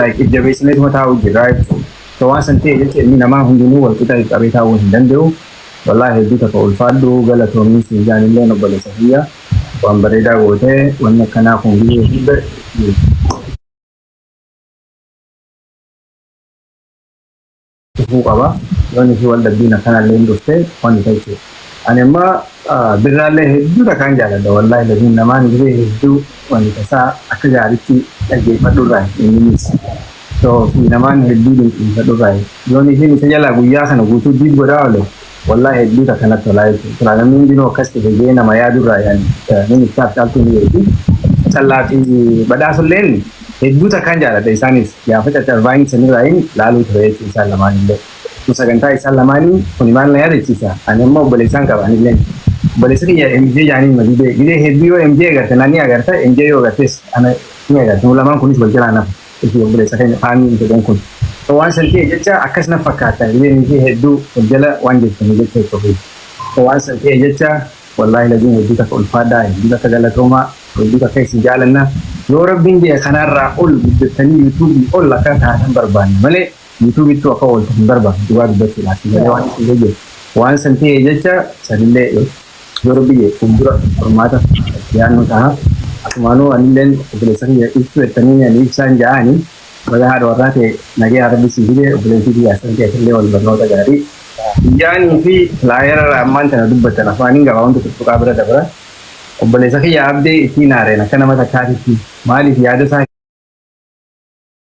like if jabeessineetuma taa'uu jirraa jechuudha. So waan san ta'e jecha ilmi namaa hundinuu wal qixa if qabee taa'uu hin danda'u. Wallahi hedduu takka ulfaadhu galatoomii siin jaan illeen obboleessa kiyya waan bareedaa goote wanni akkanaa kun biyyee hunda itti dhufuu qaba wan isii wal dhabbiin akkanalleen dhufte wan isa jechuudha ani amma birraallee hedduu takaan jaaladha wallaahi laziim namaan gizee hedduu wan isa isaa akka gaaritti dhaggeeffadhurraa inninis so fi namaan hedduu dinqisiifadhurraa yoon isiin isa jalaa guyyaa kana guutuu diid godhaa ole Wallahi hedduu takka natti tolaa jechuudha. Silaa namni hundinuu akkas ta'e jee nama yaadu irraa yaani namni ibsaaf caaltuu ni beekti. Callaa fi badhaasulleen hedduu takkaan jaaladha isaanis gaafa caccarvaayini sanirraayin laaluu ture jechuudha isaan lamaanillee. Kun sagantaa isaan lamaanii kuni maal na yaadachiisa ani amma obboleessaan qaba anilleen. Obboleessa kiyya MJ jaaniin ma gidee gidee hedduu yoo MJ agarte na ni agarta MJ yoo agartes ana ni agarta nu lamaan kunis wal jalaa hin hafnu. Iti obbolessa kenya Fahmi mucacan kun so wan san ta'e jecha akkas naf fakkata hiriyani ishee heddu wal jala wan jirtani jecha itti ofi so wan san ta'e jecha wallahi lazim heddu takka ulfaadha heddu takka galatooma heddu takka isin jaalanna yoo rabbin je'e kanarra ol guddattani YouTube ol akka taatan barbaanna malee YouTube ittuu akka ooltu hin barbaadu dhugaa dubbachuudhaaf si galee waan isin jiru waan san ta'e jecha sanillee yoo rabbi jee fuuldura furmaata yaannoo ta'a asumaanuu anilleen obboleessa kiyya ibsuu jettanii ani ibsaan ja'aani baga haadha warraa ta'e nagaya rabbi sii fide obboleessi kiyya asan ta'e illee wal barnoota gaarii Ijaanii fi laayera ammaan tana dubbatan afaaniin gabaa wanta tuttuqaa bira dabra obboleessa kiyya abdee ittiin haareen akka nama takkaatitti maaliif yaada isaa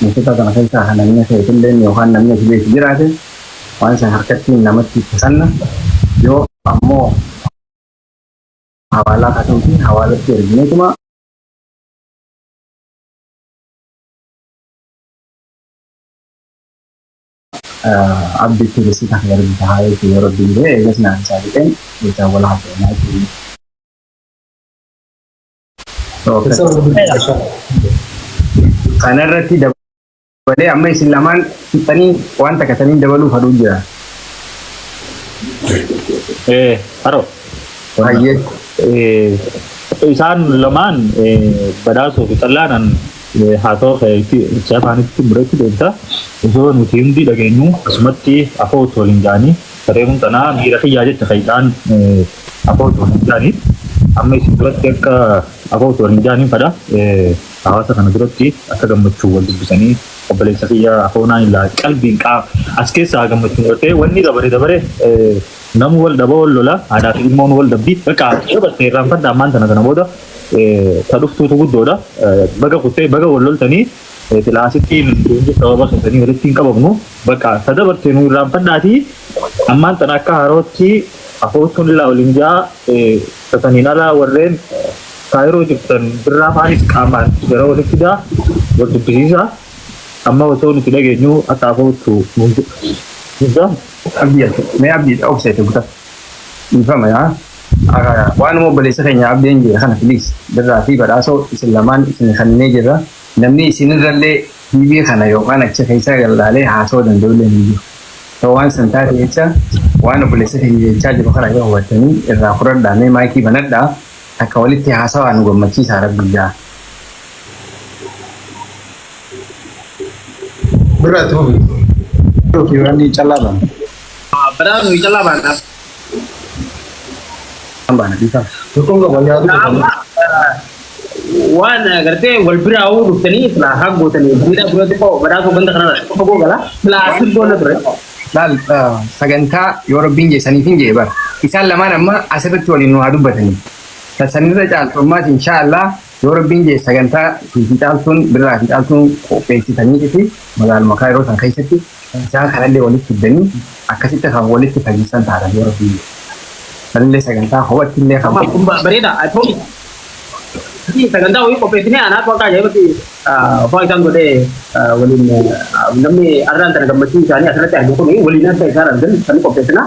Mootota kana keessaa kan namni akka itilleen yookaan namni akka beeku jiraate waan isa harkattiin namatti itti kanna yoo ammoo hawaalaa kasuutiin hawaalatti ergineetuma abditti bisi kan ergi tahaa jechuun yeroo diinee eegas naan isaa jedheen jechaa wal haasa'inaa jechuudha. Kanarratti dabalee amma isin lamaan fixanii waan takka saniin dabaluu fadhuu jira. Eh, haro. Hayyee. Eh, isaan lamaan eh, badhaasuu fi xallaanan eh, haasawaa kee itti itti afaanitti biratti deemta. Osoo nuti hundi dhageenyu asumatti afoo osoo hin jaanii saree kun tanaa miira kiyyaa jette kan isaan eh, Abo osoo hin jaani amma isin duratti akka abo osoo hin jaaniin fadha hawaasa kana duratti akka gammachuu wal dubbisanii obboleessa kiyya afoonaa hin laa qalbiin qaa as keessaa haa gammachuu godhatee wanni dabare dabare namu wal dhaba wal lola haadhaa fi ilmoon wal dhabdi baqa dabatte irraan fadha ammaan tana tana booda ta dhuftuutu guddoodha baga kuttee baga wal loltanii Silaa asitti nuti hundi sababa keessanii walitti hin qabamnu. Bakka ta dabarte nu irraanfadhaati. Ammaan tana akka haarootti afoottuun illaa waliin jaa tataniin alaa warreen kaayiroo jirtan birraa faanis qaamaan gara walitti fidaa wal dubbisiisa. Amma osoo nuti dhageenyu akka afoottu nuun jedha. Abdii mee abdii obseete guta. Dhiifama yaa. Waanuma obboleessa keenya Abdeen jedhe kana please Birraa fi Badhaasoo isin lamaan isin kaninee jirra. Namni isinirrallee TV kana yookaan achi keessaa gad laalee haasawa danda'ullee hin jiru. So waan san taate jecha waan obboleessa keenya jechaa jiru kana yoo hubattanii irraa fudhadhaa mee maayikii banadhaa takka walitti haasawaa nu gammachiisaa rabbii jaa. Birraa itti fufi. Yookii waan callaa bana. Badhaasoo fi Callaa baana. Amma waan agartee wal biraa hoo dhuftanii silaa haa gootanii miidhaa biroo xiqqoo badhaasuu ganda kanarra xiqqoo fagoo gala silaa asii goona ture. Laal sagantaa yoo rabbiin jeessaniif hin jee bara. Isaan lamaan amma asirratti waliin nu haa dubbatanii. Sanirra caaltu ammaas inshaallah Yoo Rabbiin je'e sagantaa Suufii Caaltuun Birraa fi Caaltuun qopheessitaniitii fi magaaluma Kaayiroo san keessatti isaan kanallee walitti fiddanii akkasitti kan walitti fayyissan taatan yoo Rabbiin je'e. Sanillee sagantaa kophattillee kan. Kun bareeda I promise. Sagantaa wayii qopheessinee anaatu akka ajaa'ibatti waan isaan godhee waliin namni arraan tana gammachuu isaanii asirratti argu kun waliin akka isaan argan kan qopheessinaa.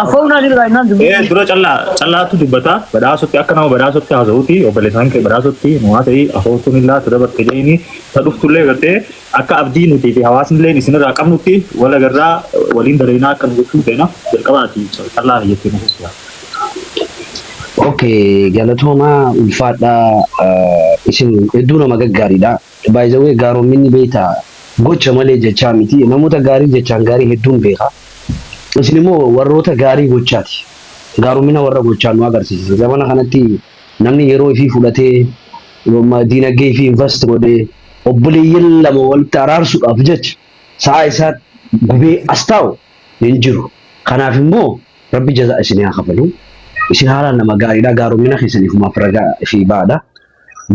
Afaan naa jira innaan dubbii. Ee dura callaa callaatu dubbata badhaasutti akka nama badhaasutti haasa'uuti obboleessaan kee badhaasutti nu haasa'ii afooftuun illaa tu dabarte jeeni ta dhuftullee gartee akka abdii nutii fi hawaasnillee isinirraa qabnutti wal agarraa waliin dalaynaa akka nu gochuun feena jalqabaati callaa jettee nu fuusisaa. Okay galatoomaa ulfaadhaa isin hedduu nama gaggaariidha. By the way gaaromminni beektaa gocha malee jechaa miti namoota gaarii jechaan gaarii hedduun beeka isin immoo warroota gaarii gochaati gaarommina warra gochaan nu agarsiistan zamana kanatti namni yeroo ifii fudhatee diinaggee ifii invast godhee obboleeyyan lama walitti araarsuudhaaf jecha sa'aa isaa gubee as taa'u hin jiru kanaaf immoo rabbi jazaa isinii haa kafalu isin haalaan nama gaariidha gaarommina keessaniif umaaf ragaa ifii ba'aadha.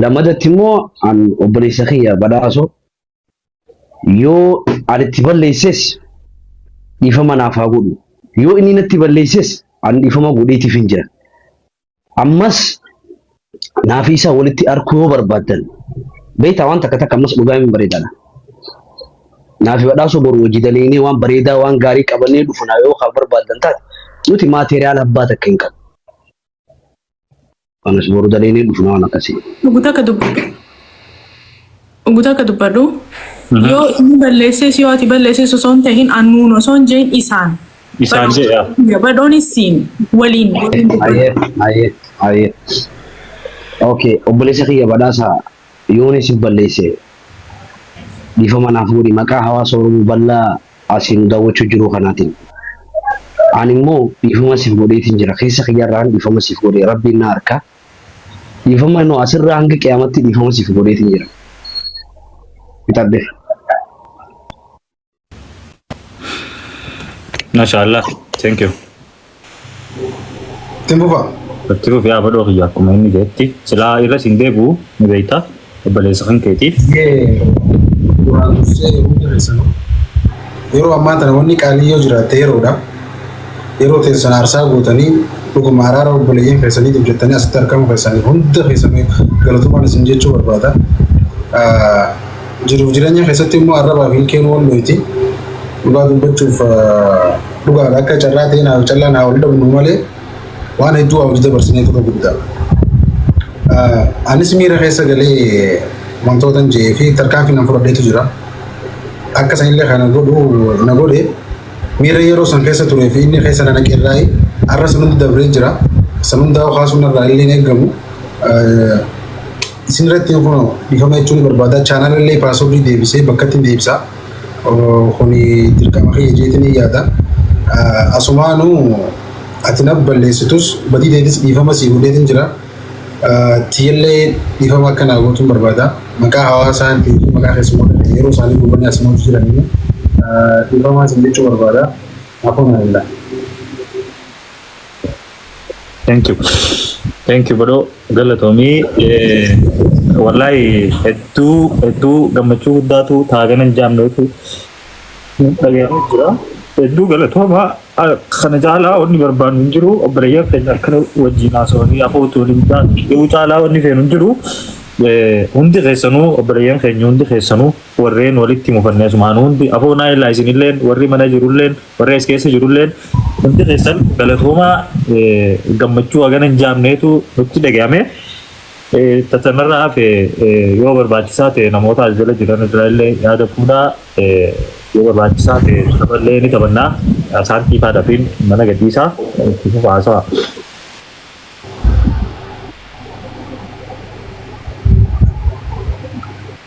Lamadatti immoo an obboleessa kiyya badhaasoo yoo an itti balleesses dhiifama naaf haa godhu. Yoo inni natti balleesses an dhiifama godheetiif hin jira. Ammas naaf isaa walitti arkuu yoo barbaaddan beektaa waan takka takka ammas dhugaa hin bareedana. Naaf badhaasoo boru hojii daleeynee waan bareedaa waan gaarii qabannee dhufna yoo kan barbaaddan taate nuti maateriyaal abbaa takka hin qabnu. Kanas boru daleelee dhufna waan akkasii. Dhugu takka dubbadhu. Dhugu takka dubbadhu. Yoo inni balleessees yoo ati balleessees osoo hin tahin annuun osoo hin jehin isaan. Isaan jedha. Badhoonis siin waliin. waliin dubbadhu. Ayee ayee ayee. Okay obboleessa kiyya badhaasa yooni si balleesse dhiifama naaf godhi maqaa hawaasa Oromoo bal'aa Asi nu daawwachuu jiruu kanaatiin ani immoo dhiifama siif godheetiin jira. Keessa kiyyarraan dhiifama siif godhe. Rabbiin na arka. Dhiifama nu asirraa hanga qiyaamatti dhiifama siif godheetiin jira. Fixadhe. Masha Allah. Thank you. Ittiin fufaa. Itti fufi yaa badhoo kiyya akkuma inni jedhetti silaa irra siin deebi'u ni beekta obboleessa kan keetii. Yee duraan dursee hundi keessanuu yeroo ammaa tana wanni qaalii yoo jiraatte yeroodha. Yeroo teessan aarsaa gootanii dhuguma araara obboleeyyiin keessaniitiif jettanii asitti argamu keessaniif hunda keessanii galatoomaa isin jechuu barbaada. Ah, Jiruuf jireenya keessatti immoo arrabaaf ilkeen wal loyti. Dhugaa dubbachuuf dhugaadha akka carraa ta'ee naaf callaan haa wal dhabnu malee waan hedduu haa wal dabarsinee tura guddaa. Anis miira keessa galee wantootan jedhee fi tarkaanfii nan fudhadheetu jira. Akka sanillee kana godhu na godhe miira yeroo san keessa turee fi inni keessa na naqeerraayi har'a san hundi dabree jira. San hundaa kaasuun irraa illee hin eegamu. Isin irratti yoo kunoo dhiifama jechuun ni barbaada. Chaanal illee paaswordii deebisee bakkatti hin deebisa. Oo, Kuni dirqama kiyya jeetiin hin yaada. Ah, Asumaanu ati na balleessitus badii deetis dhiifama sii godheetiin jira. Ah, Tiyyallee dhiifama akka naa gootuun barbaada. Maqaa hawaasaa fi maqaa keessummoota ta'e yeroo isaanii gubbanii asumatti jiran immoo ah, dhiifama isin jechuu barbaada. Afoo na danda'a. Thank you. Thank you bro. Galatoomii. Eh, Wallahi hedduu hedduu gammachuu guddaatu taaganan jaamneetu dhaga'amee jira. Hedduu galatooma Ah, kana caalaa wanni barbaannu hin jiru obboleeyyan keenya akkana wajjin haasawanii afootu waliin ta'an yoo caalaa wanni feenu hin jiru. Eh, Hundi keessanuu obboleeyyan keenya hundi keessanuu warreen walitti mufannee asumaan hundi afoo naayilaa isinilleen warri mana jirulleen Warri as keessa jirulleen hundi keessan galatoomaa gammachuu hagana hin jaamneetu nutti dhaga'ame. Tatanarraa hafe yoo barbaachisaa ta'e namoota as jala jiran irraa illee yaada fuudhaa yoo barbaachisaa ta'e taphallee ni taphannaa. Isaan xiifaa dhafiin mana gadhiisaa itti fufa haasawa.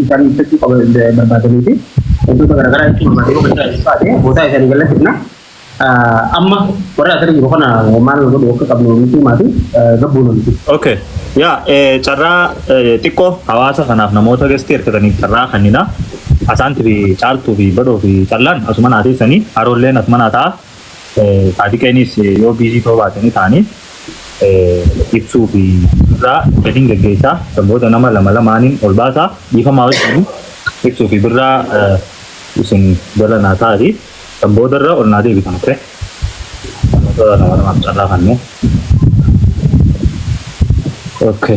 Isaan ibsachuu qaba barbaadanii fi wantoota garaagaraa ibsuu barbaadanii bakka isaa ibsaate boodaa isaanii gallattifna. Amma warra asirra jiru kana maal godhu akka qabnu nuti himaati gabbuu nuti. Okay. Yaa carraa xiqqoo hawaasa kanaaf namoota gestii hirkataniif carraa kennina. Asaanti fi caaltuu fi badhoo fi callaan asuma naa teessanii haroolleen asuma naa ta'a. Saadiqeenis yoo biizii ta'uu baatanii ta'anii ibsuu fi birraa gadiin geggeessaa kan booda nama lama lamaaniin ol baasaa dhiifamaa wajjin ibsuu fi birraa isin jala naa taa'ati kan boodarra ol naa deebitan oke namoota lama lamaaf carraa kannee oke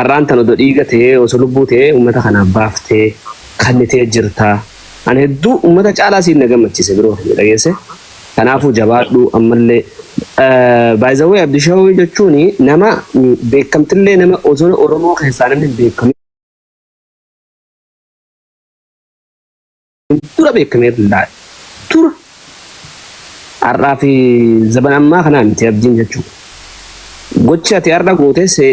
arraan tan odo dhiiga tee oso lubbuu tee ummata kanaaf baaftee kannitee jirtaa an hedduu ummata caalaa siin na gammachise bro kiyya dhageesse kanaafuu jabaadhuu ammallee by the way abdishaw jechuun nama beekamtillee nama oso oromoo keessaa namni hin beekamin dura beekamee laal dura har'aa fi zaban ammaa kanaa miti abdiin jechuudha. Gochi ati har'a goote see